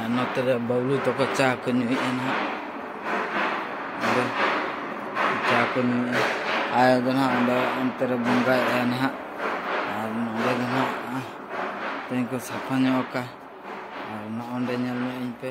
ᱟᱨ ᱱᱚᱛᱮ ᱨᱮ ᱵᱟᱹᱵᱽᱞᱩ ᱛᱟᱠᱚ ᱪᱟ ᱠᱚ ᱧᱩᱭᱮᱫᱼᱟ ᱱᱟᱦᱟᱜ ᱟᱫᱚ ᱪᱟ ᱠᱚ ᱧᱩᱭᱮᱫᱼᱟ ᱟᱭᱳ ᱫᱚ ᱱᱟᱦᱟᱜ ᱚᱸᱰᱮ ᱚᱱᱛᱮ ᱨᱮ ᱵᱚᱸᱜᱟᱭᱮᱫᱼᱟ ᱱᱟᱦᱟᱜ ᱟᱨ ᱱᱚᱸᱰᱮ ᱫᱚ ᱱᱟᱦᱟᱜ ᱛᱮᱦᱮᱧ ᱠᱚ ᱥᱟᱯᱷᱟ ᱧᱚᱜ ᱟᱠᱟᱫᱼᱟ ᱟᱨ ᱱᱚᱜᱼᱚᱸᱰᱮ ᱧᱮᱞ ᱧᱚᱜ ᱟᱹᱧ ᱯᱮ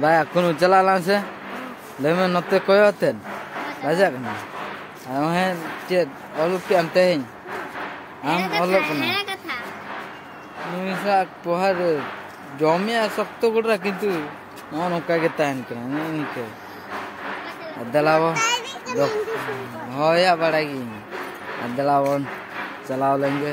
ᱵᱟᱭᱟ ᱠᱚᱱᱚ ᱪᱟᱞᱟᱜ ᱞᱟᱝ ᱥᱮ ᱞᱮᱢᱮ ᱱᱚᱛᱮ ᱠᱚᱭᱚᱜ ᱛᱮ ᱵᱟᱡᱟᱜ ᱠᱟᱱᱟ ᱟᱢ ᱦᱮ ᱪᱮ ᱚᱞ ᱠᱮ ᱟᱢ ᱛᱮᱦᱮᱧ ᱟᱢ ᱚᱞ ᱠᱟᱱᱟ ᱦᱮ ᱠᱟᱛᱷᱟ ᱱᱩᱭ ᱥᱟ ᱯᱚᱦᱟᱨ ᱡᱚᱢᱮ ᱥᱚᱠᱛᱚ ᱜᱚᱲᱟ ᱠᱤᱱᱛᱩ ᱱᱚ ᱱᱚᱠᱟ ᱜᱮ ᱛᱟᱦᱮᱱ ᱠᱟᱱᱟ ᱱᱮ ᱱᱤᱠᱮ ᱫᱮᱞᱟᱣᱟ ᱦᱚᱭᱟ ᱵᱟᱲᱟᱭ ᱜᱤᱧ ᱫᱮᱞᱟᱣᱚᱱ ᱪᱟᱞᱟᱣ ᱞᱮᱱᱜᱮ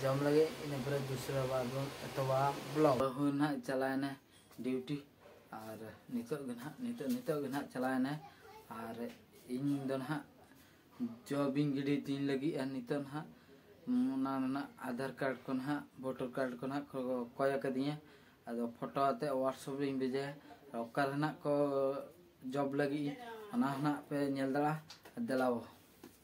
ᱡᱚᱢ ᱞᱟᱹᱜᱤᱫ ᱤᱱᱟᱹ ᱯᱚᱨᱮ ᱫᱩᱥᱨᱟ ᱵᱟᱨ ᱵᱚᱱ ᱮᱛᱚᱦᱚᱵᱟ ᱵᱞᱚᱜ ᱵᱟᱹᱦᱩ ᱱᱟᱦᱟᱜ ᱪᱟᱞᱟᱣᱮᱱᱟ ᱰᱤᱭᱩᱴᱤ ᱟᱨ ᱱᱤᱛᱚᱜ ᱜᱮ ᱱᱟᱦᱟᱜ ᱱᱤᱛᱚᱜ ᱱᱤᱛᱚᱜ ᱜᱮ ᱱᱟᱦᱟᱜ ᱪᱟᱞᱟᱣᱮᱱᱟ ᱟᱨ ᱤᱧ ᱫᱚ ᱱᱟᱦᱟᱜ ᱡᱚᱵᱤᱧ ᱜᱤᱰᱤ ᱛᱤᱧ ᱞᱟᱹᱜᱤᱫ ᱟᱨ ᱱᱤᱛᱚᱜ ᱱᱟᱦᱟᱜ ᱚᱱᱟ ᱨᱮᱱᱟᱜ ᱟᱫᱷᱟᱨ ᱠᱟᱨᱰ ᱠᱚ ᱱᱟᱦᱟᱜ ᱵᱷᱳᱴᱟᱨ ᱠᱟᱨᱰ ᱠᱚ ᱱᱟᱦᱟᱜ ᱠᱚ ᱠᱚᱭ ᱟᱠᱟᱫᱤᱧᱟ ᱟᱫᱚ ᱯᱷᱳᱴᱳ ᱟᱛᱮ ᱦᱳᱣᱟᱴᱥᱮᱯ ᱨᱤᱧ ᱵᱷᱮᱡᱟᱭᱟ ᱚᱠᱟ ᱨᱮᱱᱟᱜ ᱠᱚ ᱡᱚᱵ ᱞᱟᱹᱜᱤᱫ ᱚᱱᱟ ᱦᱚᱸ ᱱᱟᱦᱟᱜ ᱯᱮ ᱧᱮᱞ ᱫᱟᱲᱮᱭᱟᱜᱼᱟ ᱫᱮᱞᱟᱣ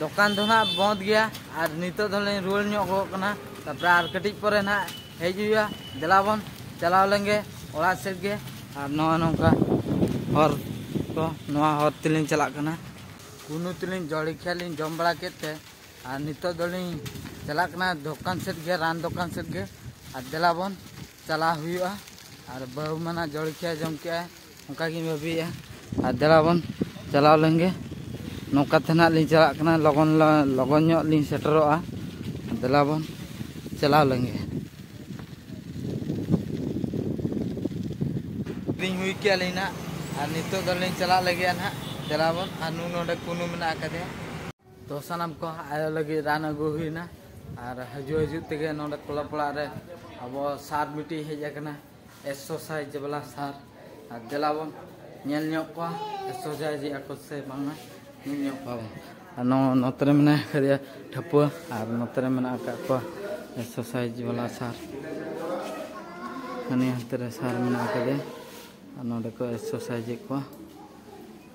ᱫᱚᱠᱟᱱ ᱫᱚ ᱱᱟᱜ ᱵᱚᱸᱫ ᱜᱮᱭᱟ ᱟᱨ ᱱᱤᱛᱚᱜ ᱫᱚᱞᱤᱧ ᱨᱩᱣᱟᱹᱲ ᱧᱚᱜ ᱜᱚᱜ ᱠᱟᱱᱟ ᱛᱟᱯᱚᱨᱮ ᱟᱨ ᱠᱟᱹᱴᱤᱡ ᱯᱚᱨᱮ ᱱᱟᱜ ᱦᱮᱡ ᱦᱩᱭᱩᱜᱼᱟ ᱫᱮᱞᱟ ᱵᱚᱱ ᱪᱟᱞᱟᱣ ᱞᱮᱱᱜᱮ ᱚᱲᱟᱜ ᱥᱮᱫ ᱜᱮ ᱟᱨ ᱱᱚᱜᱼᱚ ᱱᱚᱝᱠᱟ ᱦᱚᱨ ᱠᱚ ᱱᱚᱣᱟ ᱦᱚᱨ ᱛᱮᱞᱤᱧ ᱪᱟᱞᱟᱜ ᱠᱟᱱᱟ ᱠᱩᱱᱩ ᱛᱮᱞᱤᱧ ᱡᱚᱲᱤᱠᱷᱤᱭᱟ ᱞᱤᱧ ᱡᱚᱢ ᱵᱟᱲᱟ ᱠᱮᱫ ᱛᱮ ᱟᱨ ᱱᱤᱛᱚᱜ ᱫᱚᱞᱤᱧ ᱪᱟᱞᱟᱜ ᱠᱟᱱᱟ ᱫᱚᱠᱟᱱ ᱥᱮᱫ ᱜᱮ ᱨᱟᱱ ᱫᱚᱠᱟᱱ ᱥᱮᱫ ᱜᱮ ᱟᱨ ᱫᱮᱞᱟ ᱵᱚᱱ ᱪᱟᱞᱟᱣ ᱦᱩᱭᱩᱜᱼᱟ ᱟᱨ ᱵᱟᱹᱦᱩ ᱢᱟᱱᱟ ᱡᱚᱲᱠᱤᱭᱟ ᱡᱚᱢ ᱠᱮᱜᱼᱟ ᱚᱱᱠᱟ ᱜᱤᱧ ᱵᱷᱟᱹᱵᱤᱭᱮᱜᱼᱟ ᱟᱨ ᱫᱮᱞᱟ ᱵᱚᱱ ᱪᱟᱞᱟᱣ ᱞᱮᱱᱜᱮ ᱱᱚᱝᱠᱟ ᱛᱮ ᱱᱟᱦᱟᱜ ᱞᱤᱧ ᱪᱟᱞᱟᱜ ᱠᱟᱱᱟ ᱞᱚᱜᱚᱱ ᱞᱚᱜᱚᱱ ᱧᱚᱜ ᱞᱤᱧ ᱥᱮᱴᱮᱨᱚᱜᱼᱟ ᱫᱮᱞᱟ ᱵᱚᱱ ᱪᱟᱞᱟᱣ ᱞᱮᱱᱜᱮ ᱞᱤᱧ ᱦᱩᱭ ᱠᱮᱜᱼᱟ ᱞᱤᱧ ᱱᱟᱦᱟᱜ ᱟᱨ ᱱᱤᱛᱚᱜ ᱫᱚᱞᱤᱧ ᱪᱟᱞᱟᱜ ᱞᱟᱹᱜᱤᱫᱼᱟ ᱱᱟᱦᱟᱜ ᱫᱮᱞᱟ ᱵᱚᱱ ᱟᱨ ᱱᱩᱭ ᱱᱚᱰᱮ ᱠᱩᱱᱩ ᱢᱮᱱᱟᱜ ᱟᱠᱟᱫᱮᱭᱟ ᱛᱚ ᱥᱟᱱᱟᱢ ᱠᱚ ᱟᱭᱳ ᱞᱟᱹᱜᱤᱫ ᱨᱟᱱ ᱟᱹᱜᱩ ᱦᱩᱭᱱᱟ ᱟᱨ ᱦᱤᱡᱩᱜ ᱦᱤᱡᱩᱜ ᱛᱮᱜᱮ ᱱᱚᱰᱮ ᱠᱞᱟᱵᱽ ᱚᱲᱟᱜ ᱨᱮ ᱟᱵᱚ ᱥᱟᱨ ᱢᱤᱫᱴᱤᱡ ᱦᱮᱡ ᱟᱠᱟᱱᱟ ᱮᱠᱥᱚᱥᱟᱭᱤᱡᱽ ᱵᱟᱞᱟ ᱥᱟᱨ ᱟᱨ ᱫᱮᱞᱟ ᱵᱚᱱ ᱧᱮᱞ ᱧᱚᱜ ᱠᱚᱣᱟ ᱮᱠᱥᱚᱥᱟᱭᱤᱡᱽ ᱮᱫᱟ ᱠᱚ ᱥᱮ ᱵᱟᱝᱟ ᱧᱮᱞ ᱧᱚᱜ ᱠᱚᱣᱟ ᱵᱚᱱ ᱟᱨ ᱱᱚᱣᱟ ᱱᱚᱛᱮ ᱨᱮ ᱢᱮᱱᱟᱭ ᱟᱠᱟᱫᱮᱭᱟ ᱴᱷᱟᱹᱯᱩᱣᱟᱹ ᱟᱨ ᱱᱚᱛᱮ ᱨᱮ ᱢᱮᱱᱟᱜ ᱟᱠᱟᱫ ᱠᱚᱣᱟ ᱮᱠᱥᱚᱥᱟᱭᱤᱡᱽ ᱵᱟᱞᱟ ᱥᱟᱨ ᱦᱟᱹᱱᱤ ᱦᱟᱱᱛᱮ ᱨᱮ ᱥᱟᱨ ᱢᱮᱱᱟᱜ ᱟᱠᱟᱫᱮᱭᱟ ᱟᱨ ᱱᱚᱰᱮ ᱠᱚ ᱮᱠᱥᱚᱥᱟᱭᱤᱡᱽ ᱮᱫ ᱠᱚᱣᱟ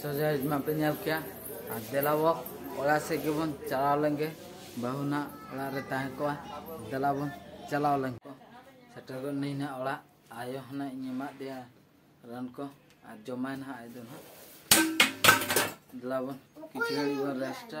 ᱥᱚᱡᱟᱭ ᱢᱟ ᱯᱮ ᱧᱮᱞ ᱠᱮᱭᱟ ᱟᱨ ᱫᱮᱞᱟᱵᱚ ᱚᱲᱟᱜ ᱥᱮᱫ ᱜᱮᱵᱚᱱ ᱪᱟᱞᱟᱣ ᱞᱮᱱᱜᱮ ᱵᱟᱹᱦᱩ ᱱᱟᱜ ᱚᱲᱟᱜ ᱨᱮ ᱛᱟᱦᱮᱸ ᱠᱚᱜᱼᱟ ᱫᱮᱞᱟᱵᱚᱱ ᱪᱟᱞᱟᱣ ᱞᱮᱱ ᱠᱚ ᱥᱮᱴᱮᱨ ᱜᱚᱫ ᱱᱟᱹᱧ ᱱᱟᱜ ᱚᱲᱟᱜ ᱟᱭᱳ ᱦᱚᱸ ᱱᱟᱜ ᱤᱧ ᱮᱢᱟᱫ ᱫᱮᱭᱟ ᱨᱟᱱ ᱠᱚ ᱟᱨ ᱡᱚᱢᱟᱭ ᱱᱟᱜ ᱟᱡ ᱫᱚ ᱱᱟᱜ ᱫᱮᱞᱟᱵᱚᱱ ᱠᱤᱪᱷᱩ ᱜᱷᱟᱹᱲᱤᱡ ᱵᱚᱱ ᱨᱮᱥᱴᱟ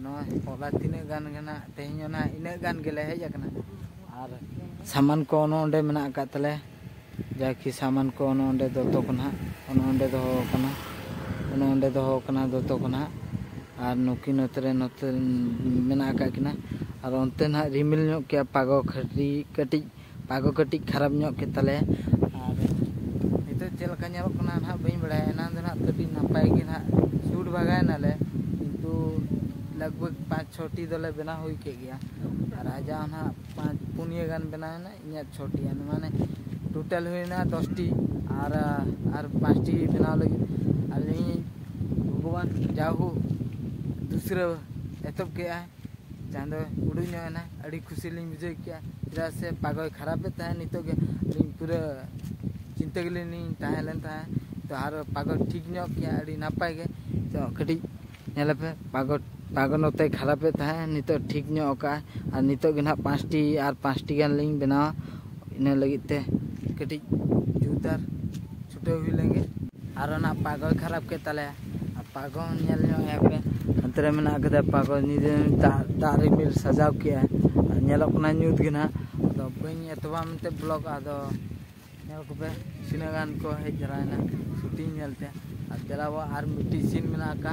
ᱱᱚᱣᱟ ᱦᱚᱞᱟ ᱛᱤᱱᱟᱹᱜ ᱜᱟᱱ ᱜᱮ ᱱᱟᱜ ᱛᱮᱦᱮᱧ ᱚᱱᱟ ᱤᱱᱟᱹᱜ ᱜᱟᱱ ᱜᱮᱞᱮ ᱦᱮᱡ ᱟᱠᱟᱱᱟ ᱟᱨ ᱥᱟᱢᱟᱱ ᱠᱚ ᱚᱱᱮ ᱚᱸᱰᱮ ᱢᱮᱱᱟᱜ ᱟᱠᱟᱫ ᱛᱟᱞᱮ ᱡᱟᱠᱤ ᱥᱟᱢᱟᱱ ᱠᱚ ᱚᱱᱮ ᱚᱸᱰᱮ ᱫᱚᱛᱚ ᱠᱚ ᱱᱟᱜ ᱚᱱᱮ ᱚᱸᱰᱮ ᱫᱚᱦᱚ ᱟᱠᱟᱱᱟ ᱚᱱᱮ ᱚᱸᱰᱮ ᱫᱚᱦᱚ ᱟᱠᱟᱱᱟ ᱫᱚᱛᱚ ᱠᱚ ᱱᱟᱜ ᱟᱨ ᱱᱩᱠᱤᱱ ᱱᱚᱛᱮ ᱨᱮ ᱱᱚᱛᱮ ᱢᱮᱱᱟᱜ ᱟᱠᱟᱫ ᱠᱤᱱᱟ ᱟᱨ ᱚᱱᱛᱮ ᱱᱟᱜ ᱨᱤᱢᱤᱞ ᱧᱚᱜ ᱠᱮᱜᱼᱟ ᱯᱟᱜᱚ ᱠᱷᱟᱹᱴᱤ ᱠᱟᱹᱴᱤᱡ ᱯᱟᱜᱚ ᱠᱟᱹᱴᱤᱡ ᱠᱷᱟᱨᱟᱯ ᱧᱚᱜ ᱠᱮᱫ ᱛᱟᱞᱮᱭᱟ ᱟᱨ ᱱᱤᱛᱚᱜ ᱪᱮᱫ ᱞᱮᱠᱟ ᱧᱮᱞᱚᱜ ᱠᱟᱱᱟ ᱱᱟᱦᱟᱜ ᱵᱟᱹᱧ ᱵᱟᱲᱟᱭᱟ ᱮᱱᱟᱝ ᱫᱚ ᱱᱟᱦᱟᱜ ᱠᱟᱹᱴᱤᱡ ᱱᱟᱯᱟᱭ ᱜᱮ ᱱᱟᱦᱟᱜ ᱥᱩᱴ ᱵᱷᱟᱜᱟᱭᱱᱟᱞᱮ ᱠᱤᱱᱛᱩ ᱞᱟᱜᱽ ᱵᱷᱟᱜᱽ ᱯᱟᱸᱪ ᱪᱷᱚᱴᱤ ᱫᱚᱞᱮ ᱵᱮᱱᱟᱣ ᱦᱩᱭ ᱠᱮᱫ ᱜᱮᱭᱟ ᱟᱨ ᱟᱡᱟᱜ ᱦᱚᱸ ᱱᱟᱦᱟᱜ ᱯᱟᱸᱪ ᱯᱩᱱᱭᱟᱹ ᱜᱟᱱ ᱵᱮᱱᱟᱣᱮᱱᱟ ᱤᱧᱟᱹᱜ ᱪᱷᱚᱴᱤ ᱜᱟᱱ ᱢᱟᱱᱮ ᱴᱳᱴᱟᱞ ᱦᱩᱭᱱᱟ ᱫᱚᱥᱴᱤ ᱟᱨ ᱟᱨ ᱯᱟᱸᱪᱴᱤ ᱵᱮᱱᱟᱣ ᱞᱟᱹᱜᱤᱫ ᱟᱨ ᱤᱧ ᱵᱷᱚᱜᱚᱵᱟᱱ ᱡᱟᱣᱦᱳᱠ ᱫᱩᱥᱨᱟᱹ ᱮᱛᱚᱦᱚᱵ ᱠᱮᱫᱼᱟᱭ ᱡᱟᱦᱟᱸ ᱫᱚ ᱩᱰᱩᱠ ᱧᱚᱜ ᱮᱱᱟ ᱟᱹᱰᱤ ᱠᱩᱥᱤ ᱞᱤᱧ ᱵᱩᱡᱷᱟᱹᱣ ᱠᱮᱜᱼᱟ ᱪᱮᱫᱟᱜ ᱥᱮ ᱯᱟᱜᱚᱭ ᱠᱷᱟᱨᱟᱯᱮᱫ ᱛᱟᱦᱮᱸᱫ ᱱᱤᱛᱚᱜ ᱜᱮ ᱟᱹᱞᱤᱧ ᱯᱩᱨᱟᱹ ᱪᱤᱱᱛᱟᱹ ᱜᱮᱞᱤᱧ ᱛᱟᱦᱮᱸ ᱞᱮᱱ ᱛᱟᱦᱮᱸᱫ ᱛᱚ ᱟᱨ ᱯᱟᱜᱚᱭ ᱴᱷᱤᱠ ᱧᱚᱜ ᱠᱮᱜᱼᱟ ᱟᱹᱰᱤ ᱱᱟᱯᱟᱭ ᱜᱮ ᱛᱚ ᱠᱟᱹᱴᱤᱡ ᱧᱮᱞ ᱯᱮ ᱯᱟᱜᱚᱭ ᱯᱟᱜᱚᱭ ᱱᱚᱛᱮ ᱠᱷᱟᱨᱟᱯᱮᱫ ᱛᱟᱦᱮᱸᱫ ᱱᱤᱛᱚᱜ ᱴᱷᱤᱠ ᱧᱚᱜ ᱠᱟᱜᱼᱟᱭ ᱟᱨ ᱱᱤᱛᱚᱜ ᱜᱮ ᱦᱟᱸᱜ ᱯᱟᱸᱪᱴᱤ ᱟᱨ ᱯᱟᱸᱪᱴᱤ ᱜᱟᱱ ᱞᱤᱧ ᱵᱮᱱᱟᱣᱟ ᱤᱱᱟᱹ ᱞᱟᱹᱜᱤᱫ ᱛᱮ ᱠᱟᱹᱴᱤᱡ ᱡᱩᱛᱟᱨ ᱪᱷᱩᱴᱟᱹᱣ ᱦᱩᱭ ᱞᱮᱱᱜᱮ ᱟᱨ ᱚᱱᱟ ᱯᱟᱜᱚᱭ ᱠᱷᱟᱨᱟᱯ ᱠᱮᱫ ᱛᱟᱞᱮᱭᱟ ᱯᱟᱜᱚ ᱧᱮᱞ ᱧᱚᱜ ᱮ ᱯᱮ ᱚᱱᱛᱮ ᱨᱮ ᱢᱮᱱᱟᱜ ᱠᱟᱫᱟ ᱯᱟᱜᱚ ᱧᱤᱫᱟᱹ ᱫᱟᱜ ᱫᱟᱜ ᱨᱤᱢᱤᱞ ᱥᱟᱡᱟᱣ ᱠᱮᱜᱼᱟ ᱟᱨ ᱧᱮᱞᱚᱜ ᱠᱟᱱᱟ ᱧᱩᱛ ᱜᱮ ᱱᱟᱦᱟᱜ ᱟᱫᱚ ᱵᱟᱹᱧ ᱮᱛᱚᱦᱚᱵᱟ ᱢᱮᱱᱛᱮ ᱵᱞᱚᱜ ᱟᱫᱚ ᱧᱮᱞ ᱠᱚᱯᱮ ᱛᱤᱱᱟᱹᱜ ᱜᱟᱱ ᱠᱚ ᱦᱮᱡ ᱡᱟᱣᱨᱟᱭᱮᱱᱟ ᱥᱩᱴᱤᱝ ᱧᱮᱞᱛᱮ ᱟᱨ ᱫᱮᱞᱟᱵᱚ ᱟᱨ ᱢᱤᱫᱴᱤᱡ ᱥᱤᱱ ᱢᱮᱱᱟᱜ ᱟᱠᱟᱫᱼᱟ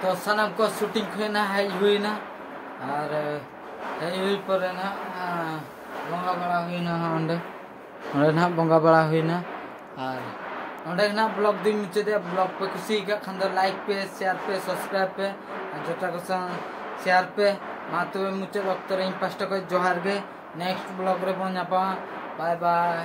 ᱛᱚ ᱥᱟᱱᱟᱢ ᱠᱚ ᱥᱩᱴᱤᱝ ᱠᱷᱚᱱ ᱱᱟᱦᱟᱜ ᱦᱮᱡ ᱦᱩᱭᱱᱟ ᱟᱨ ᱦᱮᱡ ᱦᱩᱭ ᱯᱚᱨᱮ ᱱᱟᱦᱟᱜ ᱵᱚᱸᱜᱟ ᱵᱟᱲᱟ ᱦᱩᱭᱱᱟ ᱚᱸᱰᱮ ᱚᱸᱰᱮ ᱱᱟᱦᱟᱜ ᱵᱚᱸᱜᱟ ᱵᱟᱲᱟ ᱦᱩᱭᱱᱟ ᱟᱨ ᱚᱸᱰᱮ ᱱᱟᱦᱟᱜ ᱵᱞᱚᱜ ᱫᱩᱧ ᱢᱩᱪᱟᱹᱫᱮᱜᱼᱟ ᱵᱞᱚᱜ ᱯᱮ ᱠᱩᱥᱤ ᱟᱠᱟᱫ ᱠᱷᱟᱱ ᱫᱚ ᱞᱟᱭᱤᱠ ᱯᱮ ᱥᱮᱭᱟᱨ ᱯᱮ ᱥᱟᱵᱥᱠᱨᱟᱭᱤᱵ ᱯᱮ ᱟᱨ ᱡᱚᱴᱟ ᱠᱚ ᱥᱟᱶ ᱥᱮᱭᱟᱨ ᱯᱮ ᱢᱟ ᱛᱚᱵᱮ ᱢᱩᱪᱟᱹᱫ ᱚᱠᱛᱚ ᱨᱮ ᱤᱧ ᱯᱟᱥᱴᱟ ᱠᱷᱚᱱ ᱡᱚᱦᱟᱨ ᱜᱮ ᱱᱮᱠᱥᱴ ᱵᱞᱚᱜ ᱨᱮᱵᱚᱱ ᱧᱟᱯᱟᱢᱟ ᱵᱟᱭ ᱵᱟᱭ